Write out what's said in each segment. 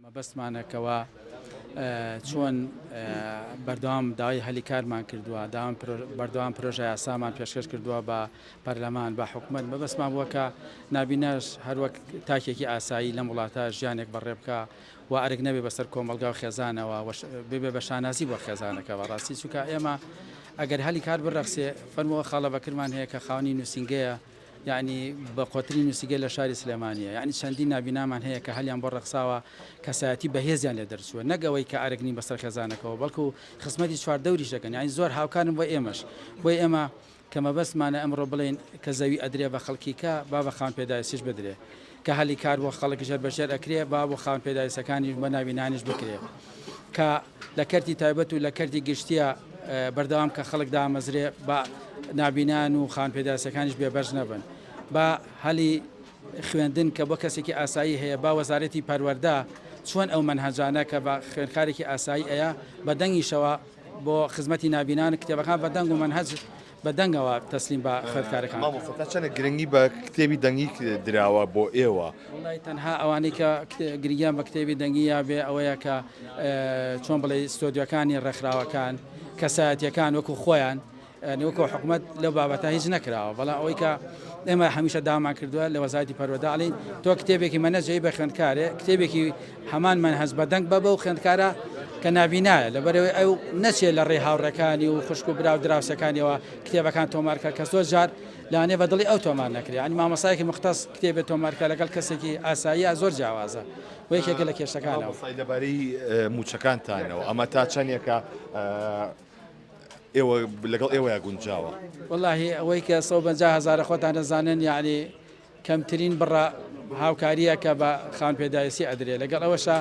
مەبەستمانە کەوا چۆن بەردەوام داوای هەلی کارمان کردووە، بەردەوام پرۆژە یاسامان پێشکەش کردووە بە پەرلەمان، بە حکومەت، مەبەستمان بووە کە نابیناش هەروەک تاکێکی ئاسایی لەم وڵاتە ژیانێک بەڕێ بکا و ئەرک نەبێ بەسەر کۆمەڵگا و خێزانەوە و ببێ بە شانازی بۆ خێزانەکە بەڕاستی چونکە ئێمە ئەگەر هەلی کار بڕەخسێ فەرمووە خاڵە بەکرمان هەیە کە خاوەنی نووسینگەیە یەعنی بە قۆترین نوسیگە لە شاری سلێمانیە یەعنی چەندین نابینامان هەیە کە هەلیان بۆ ڕەخساوە کەسایەتی بەهێزیان لێ دەرچووە نەک ئەوەی کە ئەرک نین بەسەر خێزانەکەوە بەڵکو خزمەتی چواردەوریش دەکەن یەعنی زۆر هاوکارن بۆ ئێمەش بۆی ئێمە کە مەبەستمانە ئەمڕۆ بڵێین کە زەوی ئەدرێ بە خەڵکیکە با بە خاوەن پێداویستیش بدرێ کە هەلی کار بۆ خەڵک ژێر بە ژێر ئەکرێ با بۆ خاوەن پێداویستەکانیش بە ناوی نانیش بکرێ کە لە کەرتی تایبەت و لە کەرتی گشتیە بەردەوام کە خەڵک دامەزرێ با نابینان و خاوەن پێداویستەکانیش بێبەش نەبن با هەلی خوێندن کە بۆ کەسێکی ئاسایی هەیە با وەزارەتی پەروەەردە چۆن ئەو منهجانە کە بە خوێنکارێکی ئاسایی ئەیە بە دەنگیشەوە بۆ خزمەتی نابینان کتێبەکان بە دەنگ و منهج بە دەنگەوە تەسلیم بە خوێندکارەکان کرا. مامۆستا تا چەندە گرنگی بە کتێبی دەنگی دراوە بۆ ئێوە؟ وەڵای تەنها ئەوانەی کە گرنگیان بە کتێبی دەنگی یابێ ئەوەیە کە چۆن بڵێی ستۆدیۆکانی ڕێکخراوەکان کەسایەتیەکان وەکو خۆیان یانی وەکو حکومەت لەو بابەتە هیچ نەکراوە بەڵام ئەوەی کە ئێمە هەمیشە داوامان کردووە لە وەزارەتی پەروەردە ئەڵێن تۆ کتێبێکی مەنەجەی بە خوێندکارێ کتێبێکی هەمان من هەست بە دەنگ بە بەو خوێندکارە کە نابینایە لەبەرەوەی ئەو نەچێت لە ڕێ هاوڕێکانی و خوشک و برا و دراوسەکانیەوە کتێبەکان تۆمارکە کە زۆر جار لانێ بە دڵی ئەو تۆمار نەکرێت ئەنی مامەسایەکی مختص کتێبێت تۆمارکە لەگەڵ کەسێکی ئاسایی زۆر جیاوازە و یەکێکە لە کێشەکانەوە لەبارەی موچەکانتانەوە ئەمە تا چەندێکە ئێوە لەگەڵ ئێوەیە گونجاوە واللهی ئەوەی کە سە هزارە خۆتان دەزانن یعنی کەمترین بڕە هاوکارییە کە بە خاوەن پێداویستی ئەدرێ لەگەڵ ئەوەشا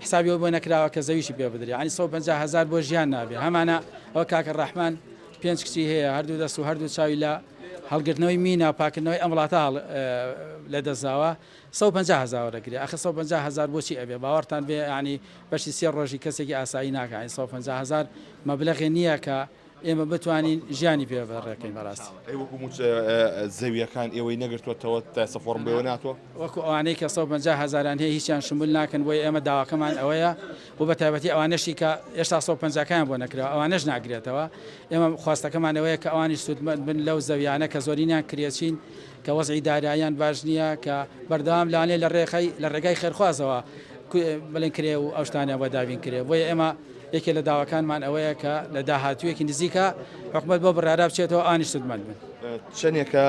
حسابی ئەوە بۆ نەکراوە کە زەویشی پێ بدرێ یانی سەد و پەنجا هەزار بۆ ژیان نابێ هەمانە ئەوە کاکە ڕەحمان پێنج کچی هەیە هەردوو دەست و هەردوو چاوی لە هەڵگرتنەوەی مینا و پاکردنەوەی ئەم وڵاتە هەڵ لە دەستداوە سە پەنجا هەزار دەگرێ ئەخە سە پەنجا هەزار بۆچی ئەبێ باوەڕتان بێ ینی بەشی سێ ڕۆژی کەسێکی ئاسایی ناکەین سە پەنجا هەزار مەبلەغێ نییە کە ئێمە بتوانین ژیانی پێ ڕێکەین بەڕاستی. ئەی وەکو موچە زەوییەکان ئێوەی نەگرتووەتەوە تاسە فۆڕم بۆ ئێوە ناتوە؟ وەکو ئەوانەی کە سەد و پەنجا هەزاریان هەیە هیچیان شمول ناکەن بۆیە ئێمە داواکەمان ئەوەیە و بە تایبەتی ئەوانەشی کە ئێشتا سەد و پەنجا کەیان بۆ نەکراوە ئەوانەش ناگرێتەوە ئێمە خواستەکەمان ئەوەیە کە ئەوانیش سوودمەند بن لەو زەویانە کە زۆرینیان کرێچین کە وەزعی داراییان باش نییە کە بەردەوام لانێ لە ڕێخەی لە ڕێگای خێرخوازەوە بڵێن کرێ و ئەو شتانیان بۆ دابین کرێ بۆیە ئێمە یەکێ لە داواکانمان ئەوەیە کە لە داهاتوویەکی نزیکا حکومەت بەو بڕیارە بچێتەوە ئانی سوودمەند بن. چەندێکە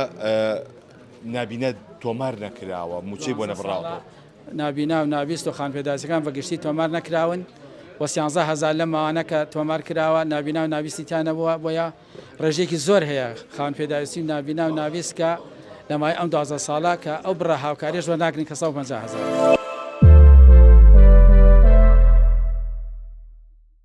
نابینە تۆمار نەکراوە، مووچەی بۆ نەبڕاوەتەوە؟ نابینا و نابیست و خانپێداویستەکان بە گشتی تۆمار نەکراون و سیانزە هەزار لەم ماوانە کە تۆمار کراوە نابینا و نابیستی تیا نەبووە بۆیە ڕێژەیەکی زۆر هەیە خاوەن پێداویستی و نابینا و نابیست کە لە ماوەی ئەم دوازدە ساڵە کە ئەو بڕە هاوکاریەش وەرناگرن کە سەد و پەنجا هەزار.